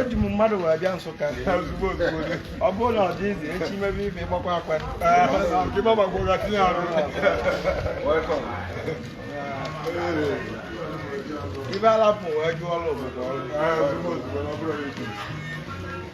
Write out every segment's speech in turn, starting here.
eji m mmadụ wee bịa Nsụka ozugbo ozugbo ọ bụrụ na ọ dị easy echi mebe ife ịgbakwa akwa ibe alapụ wee jụọ ọrụ obodo ọrụ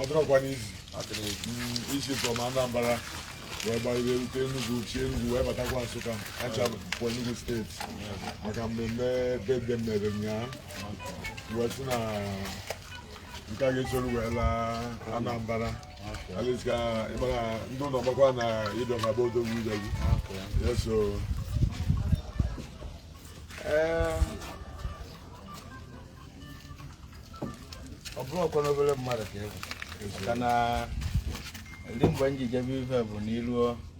ọ dụrọkwanụ easy isi from Anambra wee gbalite rute Enugu si Enugu wee batakwa Nsụka acha pụọ Enugu steeti maka mmemme bebe mere ụnyaahụ wee sị na nke a ga-esoro wee laa Anambra at least ka ị mara ndị ụlọ gbakwa na ị dụ na be odogwu ụzọ gị eso ọ bụrọkwanụ obere mmadụ ka ị bụ maka na ndị mgbe m ji jebe ife bụ n'iruo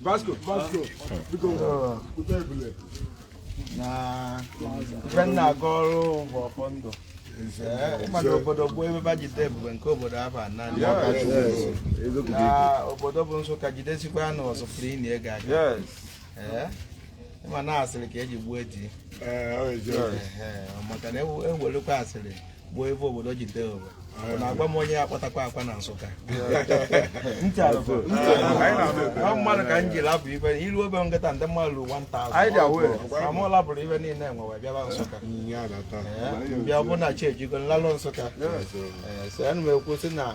Vasco, Vasco, biko kpụta ebule na ife m na-agọrọ bụ ọfọ ndụ ị ma na obodo bụ ebe ba jide ebube nke obodo ahụ a nọ na obodo bụ Nsụka jidesikwa anụ ọzọ pụrụ ịnị ego aga ị ma na asịrị ka eji gbuo eji maka na ewelekwa asịrị bụ ebe obodo jide obodo ọ na-agwa m onye ya-akpatakwa akwa na Nsụka Ntị alụkọ. ọ mmadụ ka m ji lapụ ibe ilu obe nkịta ndị mmadụ ruru 1000 Anyị dị aware. ma mụ lapụrụ ibe niile e nwe wee bịaba Nsụka Ee, bịa bụ na chi ejigo m lalụ Nsụka Ee, so ana m ekwu sị na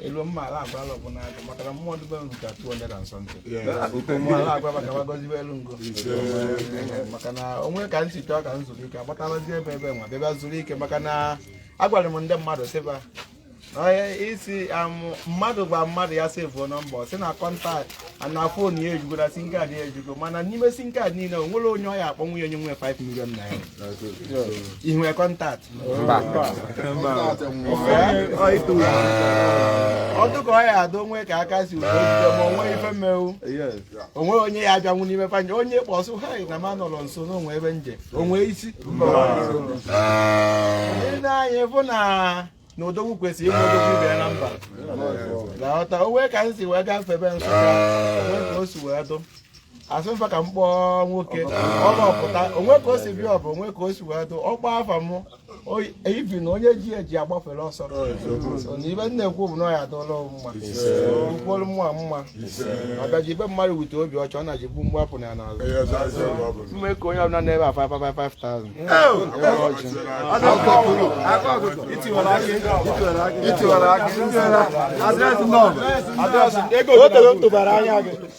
elu mma ala agwa ala ọbụla agụ maka na mmụọ dị be m ru ka 200 and something mmụọ ala agwa maka gbagozibe elu ngo maka na o nwe ka m si chọọ ka m zuru ike agbatarazi ebe ebe nwa bịa zuru ike maka na agwara m ndị mmadụ sịba onye sị mmadụ gwa mmadụ ya sevuo nọmba ọ sị na kọntaktị na fon ya ejugo na sim kaadị ya ejugo mana n'ime sim kaadị niile o nwere onye ọ ya-akpọnwu nye onye nwe 5 million naira ihu kọntaktị mba ọ dụ ka ọ ya-adụ o nwe ka aka si udo jide ma o nwe ife m mewu o nwe onye ya-abịanwu n'ime fanje onye kpọsụ ha na ma nọrọ nso na o nwe ebe m je o nwe isi ndị na-anyị bụ na na odogwu kwesịrị ịnwe odogwu ibe ya na mba na-aghọta o nwe ka m si wee gafee ebe Nsụka o nwe ka o si wee dụ asị mfa ka m kpọọ nwoke ọ gbapụta onwe ka o si bịa ọbụ onwe ka o si wee dụ ọkpọ afa m oyi- ibi na onye ji eji agbafere ọsọ So, na ife m na-ekwu bụ na ọ ya adụla m mma ukwolu mma mma abịaji ibe mmadụ wute obi ọcha ọ na-ji gbu mgbapụ na ya n'azụ Ihe ọzọ asị ọgụ ọ bụla. mme ka onye ọbụla na-ebe afa afa 5000 itiwara aka adreesị nọmba adreesị ego otego tụbara anya gị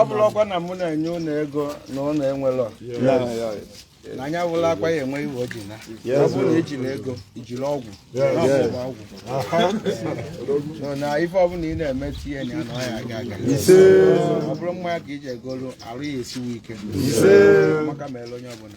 ọ bụrụ ọkwa na mụ na-enye ụlọ ego na ụlọ enwelọ na anya wụla akwa ya ewe iwe oji na ọ bụrụ na ejiri ego ijiri ọgwụ ọgwụ na ife ọbụla ị na-eme tinye na ya na ọ ya-aga aga ọ bụrụ mmanya ka i ji egolu arụ ya esiwe ike maka mere onye ọbụla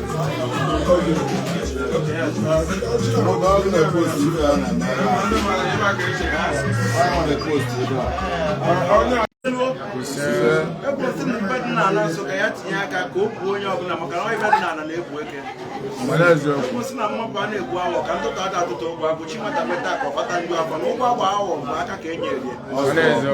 ekwesị na mgbe dị n'ala nso ka ya tinye aka ka o buo onye ọbụla maka na ife dị n'ala na-ebu eke ekwesị na mmapụ a na-egbu awọ ka ntụtụ ada atụtụ ụgwọ agwụ chi nwata meta ka ọ kpata ndị afọ na ụgwọ agba awọ bụ aka ka e nyere ya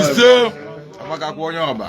ise agbakakwa onye ọba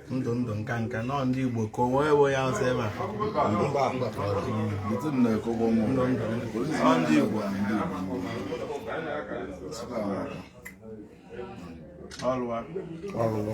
ndụ ndụ nka nka nọ ndị Igbo ka onwe ewe ya ọsọ ebe a ndị Igbo ọlụwa ọlụwa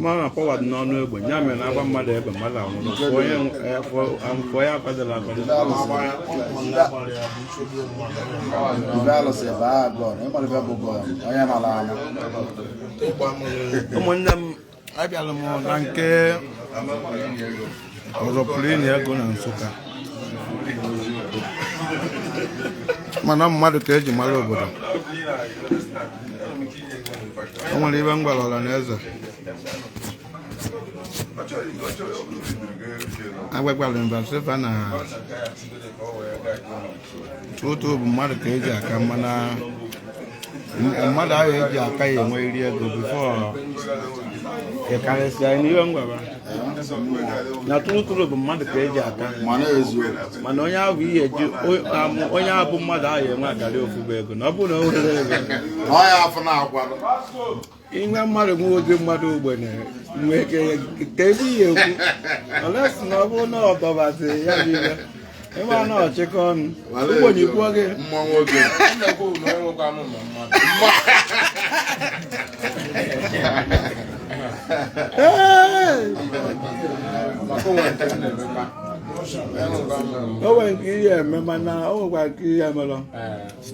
mana power dị n'ọnụ egbe ya mere na a gbaa mmadụ egbe mmadụ anwụrụ fụọ ya akwadoro akwado ụmụnne m abịala m na nke ọzọpụrụ enyi ego na Nsụka mana mmadụ ka e ji mara obodo o nwere ife m gwara ọra na eze agwagwara mba sị fa na true true bụ mmadụ ka eji aka mana mmadụ ahụ eji aka ya enwe iri ego before ị karịsịa n'ihe m gwara na true true bụ mmadụ ka eji aka mana onye ahụ ihe eji onye ahụ bụ mmadụ ahụ enwe akarị ofu bụ ego na ọ bụrụ na o nwere ego inwe mmadụ nwe ụdị mmadụ ogbenye nwe ike ka ebe ihe ekwu olesi na ọ bụrụ na ọ dọbazi ya bụ ihe ịma na ọchịkọ ọnụ ogbenye kwuo gị mma nwoke o nwere nke ihe eme mana o nwekwara nke ihe emelọ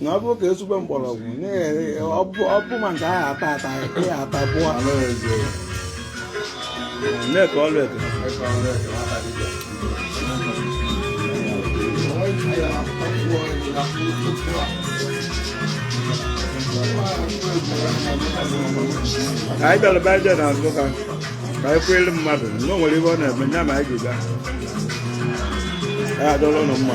na ọ bụrụ ka ezigbo mgbọrọgwụ ọ bụ ma nke ahụ ata ata ya ata bụọ na-eke ọrụ eke anyị bịara be aja na Nsukka ka anyị kwere mmadụ na o nwere ihe ọ na-eme ya ma anyị ga-aga ya adọrọ ụnụ mma